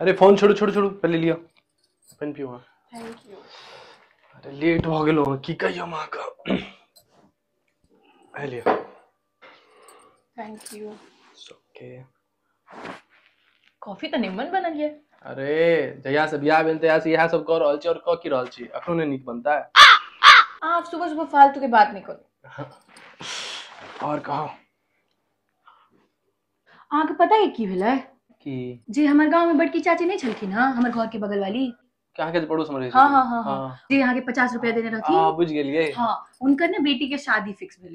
अरे फोन छोड़ू छोड़ू छोड़ू पहले लिया पेन पियो थैंक यू अरे लेट हो गेलो की कहियो मां का पहले थैंक यू ओके कॉफी तऽ निम्मन बनल ये अरे जहिया से बियाह भेल तहिया से इएह सब कऽ रहल छी और कऽ की रहल छी अखनो नहि नीक बनता अहाँ आब सुबह सुबह फालतू के बात नहि करू और कहो अहाँके पता है की भेलै कि जे हमर गांव में बड़की चाची नहीं छलखिन हँ हमर घर के बगल वाली अहाँ के पड़ोस में रहै हाँ हाँ हाँ हाँ जे अहाँके पचास रुपया देने रहथिन हाँ बुझि गेलियै हाँ उनकर ने बेटी के शादी फिक्स भेलै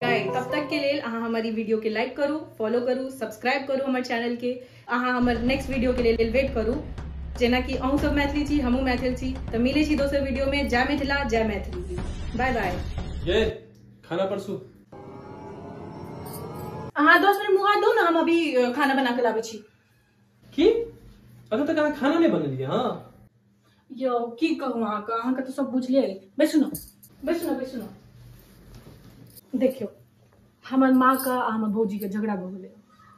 गाइड तब तक के लेल अहाँ हमारी वीडियो के लाइक करू फॉलो करू सब्सक्राइब करू हमर चैनल के अहाँ हमर नेक्स्ट वीडियो के लेल वेट करू जेना कि अहूँ सब मैथिली छी हमहूँ मैथिल छी तऽ मिलै छी दोसर वीडियो में जय मिथिला जय मैथिली बाय बाय ये खाना परसू अहाँ दस मिनट मुँह हाथ दो ना हम अभी अ, खाना बना के लाबै छी की अखन तक अहाँ खाना नहि बनेलियै हँ यौ की कहू अहाँके अहाँके तऽ सब बुझले अइ बैसू ने बैसू ने बैसू ने देखियौ हमर माँके आ हमर भौजीके झगड़ा भऽ गेलै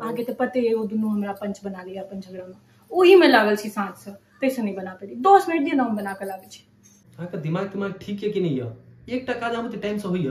अहाँके तऽ पते अइ ओ दुनू हमरा पंच बना लिअ अपन झगड़ामे ओहीमे लागल छी साँझसँ ताहिसँ नहि बना पेली दस मिनट दिअ ने हम बना कऽ लाबै छी अहाँके दिमाग तिमाग ठीक यऽ कि नहि यऽ एकटा काज अहाँ बुते टाइमसँ होइए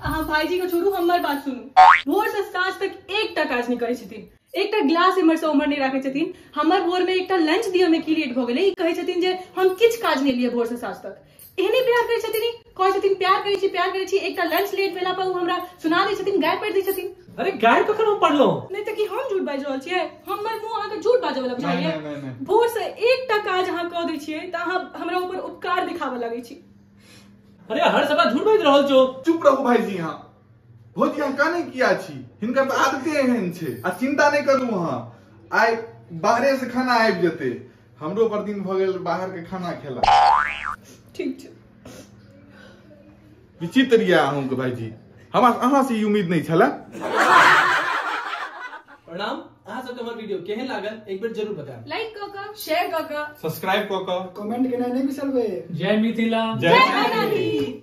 अहाँ भाईजी के छोड़ू हमर बात सुनू भोर से साँझ तक एकटा काज नहि करै छथिन एकटा ग्लास एम्हर से उम्हर नहि राखै छथिन हमर भोर में एकटा लंच दिअ में की लेट भऽ गेलै ई कहै छथिन जे हम किछु काज नहि लिए भोर से साँझ तक एहने प्यार करै छथिन ई कहै छथिन प्यार करै छी प्यार करै छी एकटा लंच लेट भेला पर ओ हमरा सुना दै छथिन गाय पढ़ि दै छथिन अरे गाय कखन हम पढ़लहुँ नहि तऽ की हम झूठ बाजि रहल छियै हमर मुंह अहाँके झूठ बाजऽ वाला नहि, बुझाइए नहि, नहि, नहि। भोर से एकटा काज अहाँ कऽ दै छियै तऽ अहाँ हमरा ऊपर उपकार दिखाबऽ लगै छी अरे हर सभा झूठ बाजि रहल छौ चुप रहू भाईजी अहाँ भौजी अहाँ काने किया छी हिनकर तऽ आदते एहन छै आ चिंता नहि करू अहाँ आइ बाहरे से खाना आबि जेतै हमरो पर दिन भऽ गेल बाहर के खाना खेला ठीक छै विचित्र यऽ अहूँके भाईजी हमरा अहाँ से ई उम्मीद नहि छलए प्रणाम अहाँ सबके हमर वीडियो केहन लागल एक बेर जरूर बताएब लाइक कऽ कऽ शेयर कऽ कऽ सब्सक्राइब कऽ कऽ कमेंट केनाइ नहि बिसरबै जय मिथिला जय जय मैथिली। मैथिली